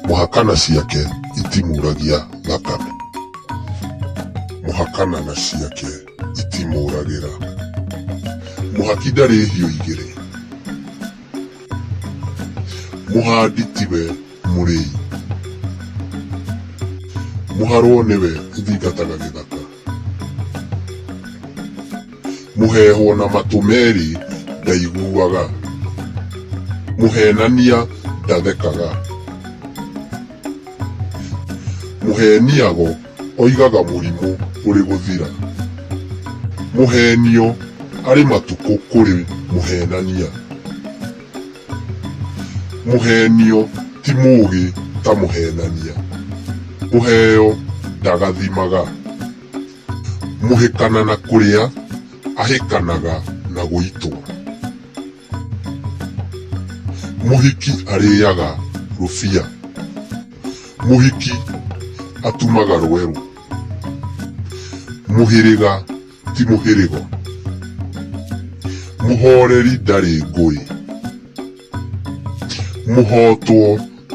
Mũhakana ciake itimuragia thakame. Mũhakana na ciake itimũragĩra. Mũhaki ndarĩ hiũ igĩrĩ. Mũhandi tiwe mũrĩi. Mũharwo nĩwe ũthingataga gĩthaka. mũheehwo na matũ merĩ ndaiguaga mũheenania ndathekaga mũheeniago oigaga mũrimũ ũrĩ gũthira mũheenio arĩ matukũ kũrĩ mũheenania Mũheenio ti mũũgĩ ta mũheenania, kũheo ndagathimaga. Mũhĩkana na kũrĩa ahĩkanaga na gũitwo. Mũhiki arĩaga rũbia, mũhiki atumaga rwerũ. Mũhĩrĩga ti mũhĩrĩgo. Mũhooreri ndarĩ ngũĩ. Mũhootwo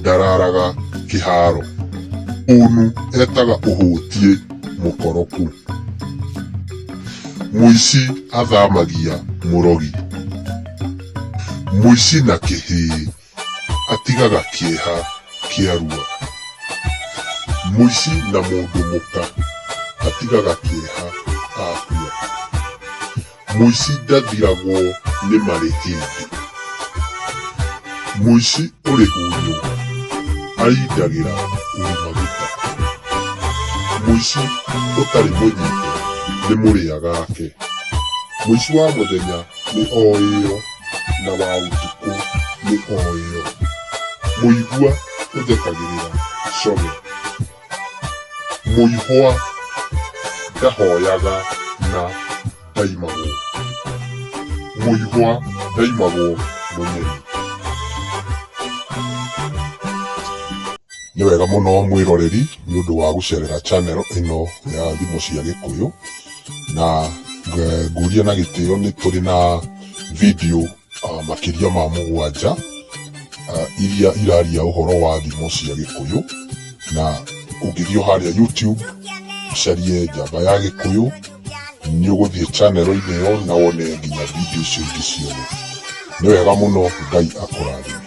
ndaraaraga kĩhaaro. Mũũnu etaga ũhũtiĩ mũkoroku. Mũici athaamagia mũrogi. Mũici na kĩhĩĩ atigaga kĩeha kĩarua mũici na mũndũ mũka atigaga kĩeha akua mũici ndathiragwo nĩ marĩ hĩndĩ mũici ũrĩ hunyũ arindagĩra ũrĩ maguta mũici ũtarĩ mũnyite nĩ mũrĩa gake mũici wa mũthenya nĩ oĩo na wa ũtukũ nĩ oĩo mũigua ũthekagĩrĩra core mũihwa ndahoyaga na ndaimagwo mũihwa ndaimagwo mũnyeri nĩ wega mũno mwĩroreri nĩ ũndũ wa gũcerera channel ĩno ya thimo cia gĩkũyũ na eh, nguria na gĩtĩo nĩ tũrĩ na video uh, makĩria ma mũgwanja uh, iria iraria ũhoro wa thimo cia gĩkũyũ na ũngĩthiĩ harĩa youtube ũcarie njamba ya gĩkũyũ nĩ ũgũthiĩ chanero-inĩ ĩyo na wone nginya video icio ingĩ ciothe nĩ wega mũno ngai akũrathime